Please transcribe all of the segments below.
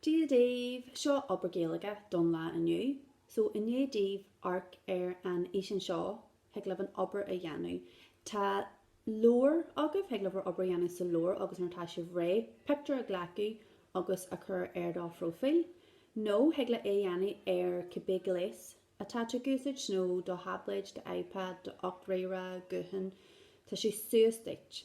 Dia daoibh! Seo obair Gaeilge don lá inniu. So, i ndiaidh daoibh amharc ar an fhísean seo, thig libh an obair a dhéanamh. Tá leabhar agaibh, thig libh bhur obair a dhéanamh sa leabhar agus nuair atá sibh réidh, pictiúr a ghlacadh agus a chur ar do phróifíl. Nó, thig leat é a dhéanamh ar cibé gléas atá tú ag úsáid, do tháibléad, d'iPad, do ríomhaire, guthán, tá sé suas duit.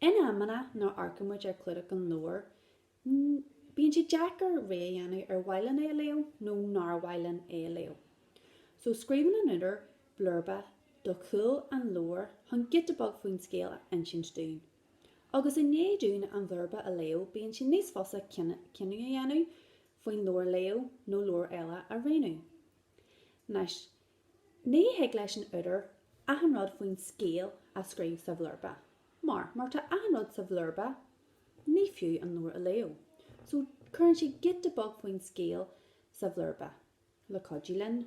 In amanna, nuair a amharcann muid ar chlúdach an leabhair, bíonn sé deacair rogha a dhéanamh ar mhaith linn é a léamh nó nár mhaith linn é a léamh. So, scríobhann an údar blurba ar chúl an leabhair chun giota beag faoin scéal a insint dúinn. Agus i ndiaidh dúinn an blurba a léamh, bíonn sé níos fusa cinneadh a dhéanamh faoin leabhar a léamh nó leabhar eile a roghnú. Ní thig leis an údar achan rud faoin scéal a scríobh sa bhlurba, mar, má tá achan rud sa bhlurba, ní fiú an leabhar a léamh. So, cuireann sé giota beag faoin scéal sa bhlurba, le cuidiú linn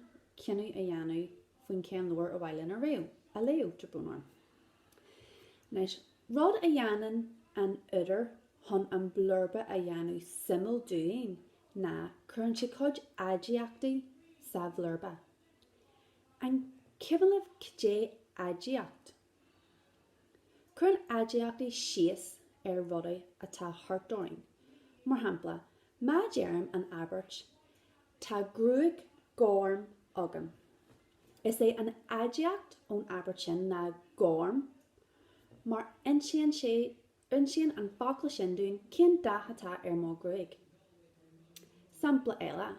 cinneadh a dhéanamh faoin cén leabhar ar mhaith linn a léamh, a léamh, gabh mo leithscéal. Anois, rud a dhéanann an údar chun an blurba a dhéanamh suimiúil dúinn, ná cuireann sé cuid aidiachtaí sa bhlurba. An cuimhin libh cad é aidiacht. Cuireann aidiachtaí síos ar rudaí atá thart orainn. Mar shampla, má deirim an abairt Tá gruaig ghorm agam, is é an aidiacht ón abairt sin ná gorm mar insíonn sé Insíonn an focal sin dúinn cén dath atá ar mo ghruaig. Sampla eile,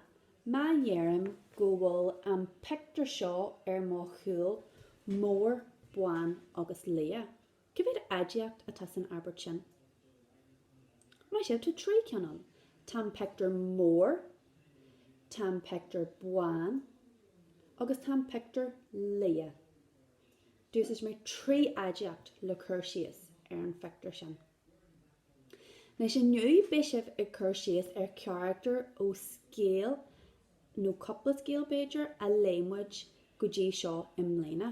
má deirim go bhfuil an pictiúr seo ar mo chúl mór, bán agus liath, cá mhéad aidiacht atá san abairt sin? Maith sibh, tá trí cinn ann. Tá an pictiúr mór, tá an pictiúr bán agus tá an pictiúr liath. D'úsáid mé trí aidiacht le cur síos ar an phictiúr sin. Anois inniu beidh sibh ag cur síos ar charachtar ó scéal, nó cúpla scéal b'fhéidir, a léigh muid go dtí seo i mbliana.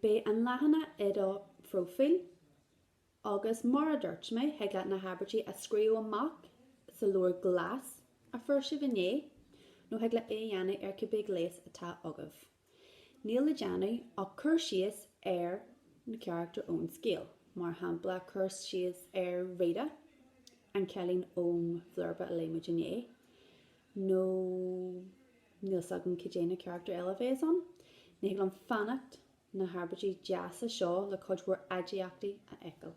Beidh an leathanach i do phróifíl agus, mar a dúirt mé, thig leat na habairtí a scríobh amach sa leabhar glas a fuair sibh inné, nó thig leat é a dhéanamh ar cibé gléas atá agaibh. Níl le déanamh ach cur síos ar na carachtair ón scéal, mar shampla, cur síos ar Rita, an cailín ón bhlurba a léigh muid inné, nó níl 's agam cad é na carachtair eile a bheas ann. Ní thig liom fanacht na habairtí deasa seo le cuid mhór aidiachtaí a fheiceáil.